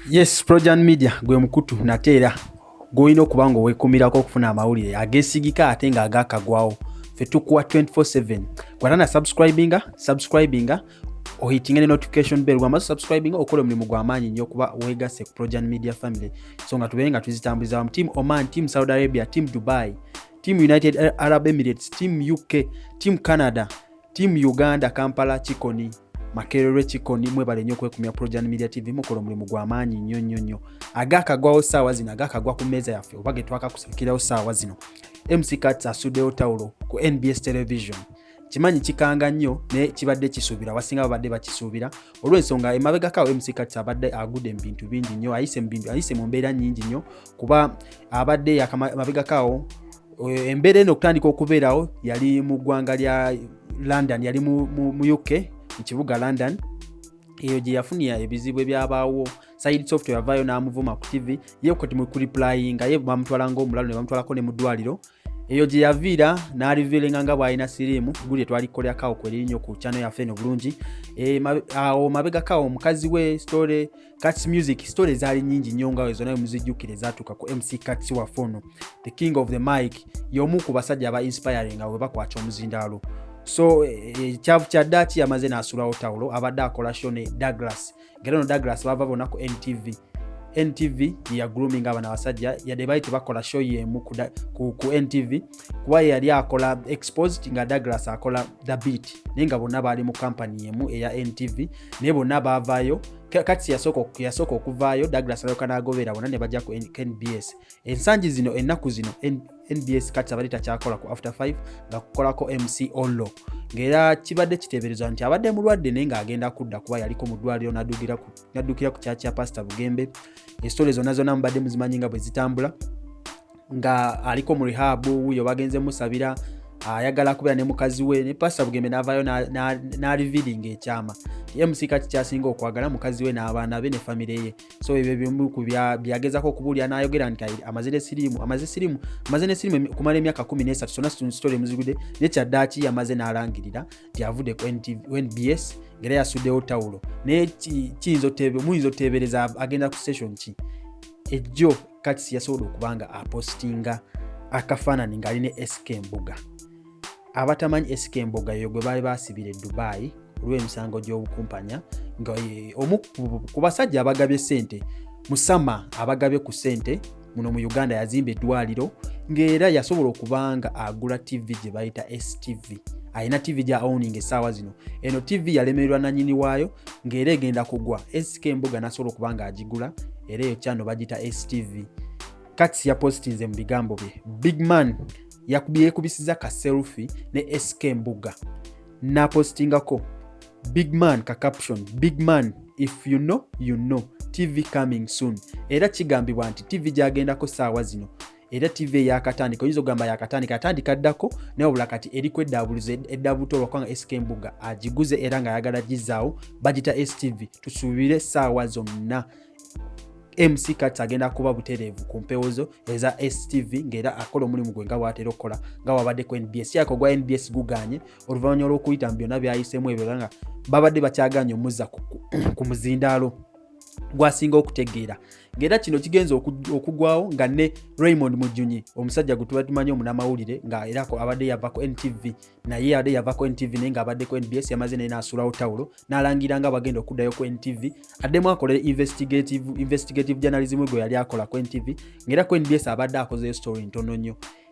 yes projan media gwe mukutu nate era gwolina okuba nga owekumirako okufuna amawulire agesigika ate nga agakagwawo fe tukuwa 247 gwatana subscribinga subscribinga ohitinga ne notification bell gwamaze subscribinga okola omulimu gwamaanyi nnyo okuba wegasse ku projan media family so nga tubeere nga tuzitambuliza wamu team oman team saudi arabia team dubai team united arab emirates team uk team canada Team Uganda Kampala Kikoni Makerere Kikoni mwebale nnyo kwekumya Projan Media TV mukola omulimu gwa maanyi nnyo nnyo nnyo agakagwawo saawa zino agakagwa ku mmeeza yaffe oba getwakakusakirawo saawa zino MC Kats asuddewo tawulo ku NBS Television kimanyi kikanga nnyo naye kibadde kisuubira wasinga babadde bakisuubira olw'ensonga emabegakawo mc kati abadde agudde mu bintu bingi nnyo ayise mu bintu ayise mu mbeera nnyingi nnyo kuba abadde yamabegakaawo eh, embeera eno okutandika okubeerawo yali mu ggwanga lya london yali mu uk mu kibuga london eyo gye yafunira ebizibu ebyabaawo side software yavaayo n'amuvuma ku tv ye kati mukuriplayinga ye bamutwala ngaomulalu ne bamutwalako ne mu ddwaliro eyo gye yaviira n'aliviiringa nga bw'alina siriimu guli etwalikolera kawo kwerinyo ku kyano yaffe eno bulungi eh, awo mabegakawo omukazi we story Cats Music story zaali nyingi nnyo nga wezo naye muzijjukire zaatuuka ku MC Cats waffe ono the king of the mic y'omu ku basajja aba inspiring nga bwe bakwata omuzindaalo so eh, eh, ekyavu kya daaki yamaze n'asulawo tawulo abadde akola sho ne Douglas ngera no Douglas bava bona ku NTV NTV ya grooming abana abasajja yadde baali tebakola show y'emu ku, ku, ku NTV kuba yeyali akola exposed nga douglas akola the beat naye nga bonna baali mu kampani emu eya ntv naye bonna baavaayo kati yasooka okuvaayo douglas alyoka nagobera bona nebajja ku nbs ensangi zino ennaku zino nbs kati abadde takyakola ku after 5 nga kukolako mc ollo ngaera kibadde kiteeberezwa nti abadde mulwadde naye ng'agenda kudda kuba yaliko mu ddwaliro naddukira ku kyakya pasita bugembe esitole zonna zonna mubadde muzimanyi nga bwe zitambula nga aliko mu rehab wuyo bagenze musabira ayagala kubeera ne mukazi we ne pasita bugembe n'avaayo n'alividinga ekyama ye musika kikyasinga okwagala mukazi we n'abaana be ne famire ye so ebyo bimu ku byagezako okubuulira n'ayogera nti amaze nesirimu amaze sirimu amaze nesirimu okumala emyaka kumi n'esatu sona sitole muzigude ne kyaddaaki yamaze n'alangirira nti avudde ku nbs ngaera yasuddewo tawulo naye kiyinza oteebereza agenda ku station ki ejjo kati siyasobola okuba nga apostinga akafaanani ng'ali ne sk mbuga abatamanyi sk mbuga yo gwe baali basibira edubayi olw'emisango gy'obukumpanya nga omu ku basajja abagabye sente musama abagabye ku sente muno mu uganda yazimba eddwaliro ng'era yasobola okuba nga agula tv gye bayita stv alina tv gya owning essaawa zino eno tv yalemererwa nanyini waayo ng'era egenda kugwa sika embuga nasobola okuba nga agigula era eyo kyano bagita stv kats yapositinze mu bigambo bye big man yekubisiza ka selfi ne sk mbuga napositingako big man ka caption big man if you know you know tv coming soon era kigambibwa nti tv gyagendako saawa zino era tv eyakatandika oyinza okugamba yakatandika atandika ddako naye obula kati eriku eddaabulizo eddabuto olwakubanga sk mbuga agiguze era nga ayagala gizaawo bagita stv tusuubire saawa zonna mc kats agenda kuba butereevu ku mpewo zo eza stv ngaera akola omulimu gwe nga bwatera okukola nga wabadde ku nbs yaka ogwa nbs guganye oluvanyuma lwokuyita mu byonna byayisemu ebyo nga babadde bakyaganye omuzza ku muzindaalo gwasinga okutegeera ngaera kino kigenza okugwawo nga ne raymond mujunyi omusajja gwe tuba tumanyi omunamawulire nga era abadde yavako ntv naye abadde yavako ntv naye nga abaddeko nbs yamaze naye nasulawo tawulo nalangira nga bagenda okuddayo ku ntv addemu akolera investigative, investigative journalism gwe yali akola ku ntv ngaera ku nbs abadde akozeyo story ntono nnyo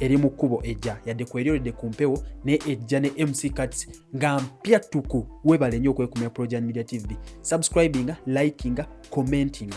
eri mu kkubo ejja yadde kweryoledde ku mpewo naye ejja ne mc cats nga mpya ttuku webale nnyo okwekumira projan media tv subscribinga likinga commentinga